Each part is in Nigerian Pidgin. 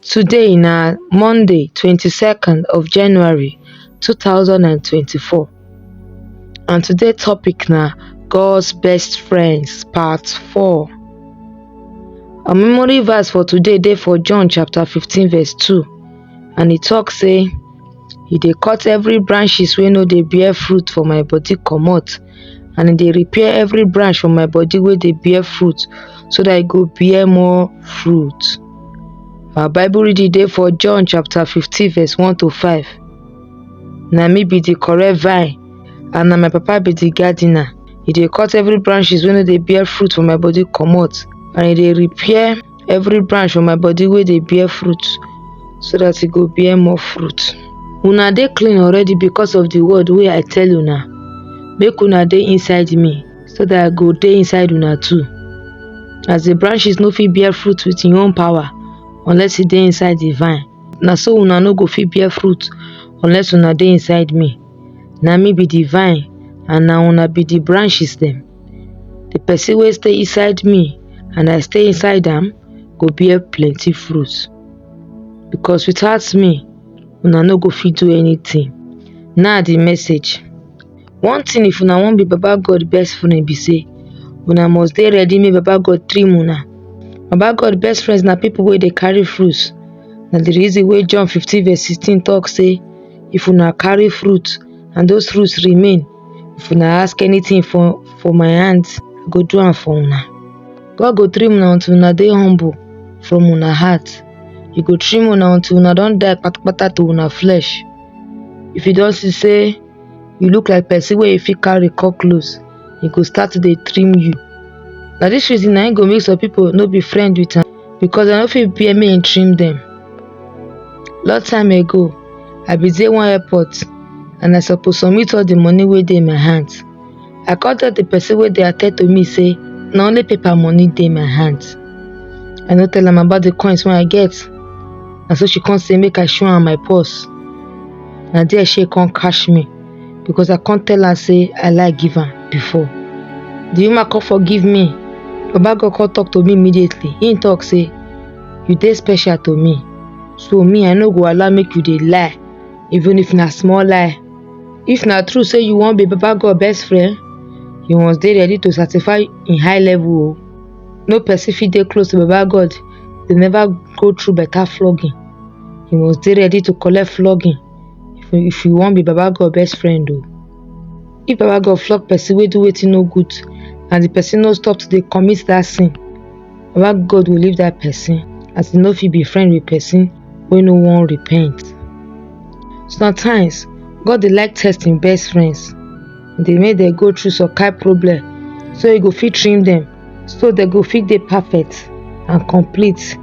Today na Monday 22nd of January 2024 and today topic na God's best friends part 4. Our memory verse for today dey for John chapter 15 verse 2 and e talk say e dey cut every branches wey no dey bear fruit for my body comot and e dey repair every branch for my body wey dey bear fruit so that e go bear more fruit. Our Bible reading dey for John chapter 15 verse 1 to 5. Na me be the correct vine and na my papa be the gardener. He dey cut every branches wey no dey bear fruit for my body comot and he dey repair every branch for my body wey dey bear fruit so that e go bear more fruit una dey clean already because of the word wey i tell una make una dey inside me so that i go dey inside una too as the branches no fit bear fruit with im own power unless e dey inside the vine na so una no go fit bear fruit unless una dey inside me na me be the vine and na una be the branches dem The person wey stay inside me and I stay inside am go bear plenty fruit because without me una no go fit do anything. Now the message. One thing if una wan be Baba God best friend be say una must dey ready make Baba God trim una. Baba God best friends na people wey dey carry fruit. Na the reason wey John fifteen verse sixteen talk say if una carry fruit and those fruits remain, if una ask anything for for my hand i go do am for una god go trim una until una dey humble from una heart he go trim una until una don die patapata to una flesh if you don see say you look like person wey you fit carry come close he go start to dey trim you na this reason na him go make some people no be friend with am because dem no fit bear make im trim dem. Long time ago, I be dey one airport and I suppose submit all the money wey dey my hand. I come tell the person wey dey attend to me say na only paper money dey my hand. I no tell am about the coins wey I get. Na so she come say make I show am my purse. Na there she come catch me. because I can't tell her say I like give am before. The woman come forgive me. Baba God come talk to me immediately. He talk say, you dey special to me. So me, I no go allow make you dey lie, even if na small lie. If na true say you wan be Baba God best friend, you must dey ready to satisfy in high level o. No person fit dey close to Baba God dey never go through better flogging. You must dey ready to collect flogging. if you if you wan be baba god best friend o if baba god flog person wey do wetin no good and the person no stop to dey commit that sin baba god go leave that person as e no fit be friend with person wey no wan repent sometimes god dey like test him best friends dey make dem go through some kind problem so e go fit trim dem so dem go fit dey perfect and complete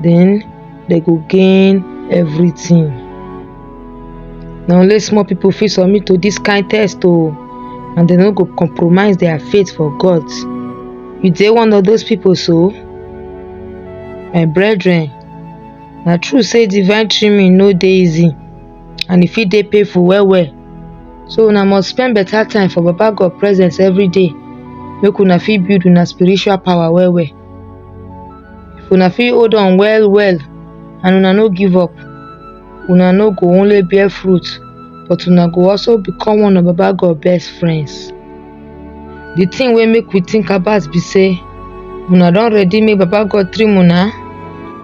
then dem go gain everything na only small people fit submit to this kind test o oh, and dem no go compromise their faith for god you dey one of those people so my brethren na true say divine trimming no dey easy and e fit dey painful well well so una must spend better time for baba God presence everyday make una fit build una spiritual power well well if una fit hold on well well and una no give up una no go only bear fruit but una go also become one of baba God best friends the thing wey make we think about be say una don ready make baba God trim una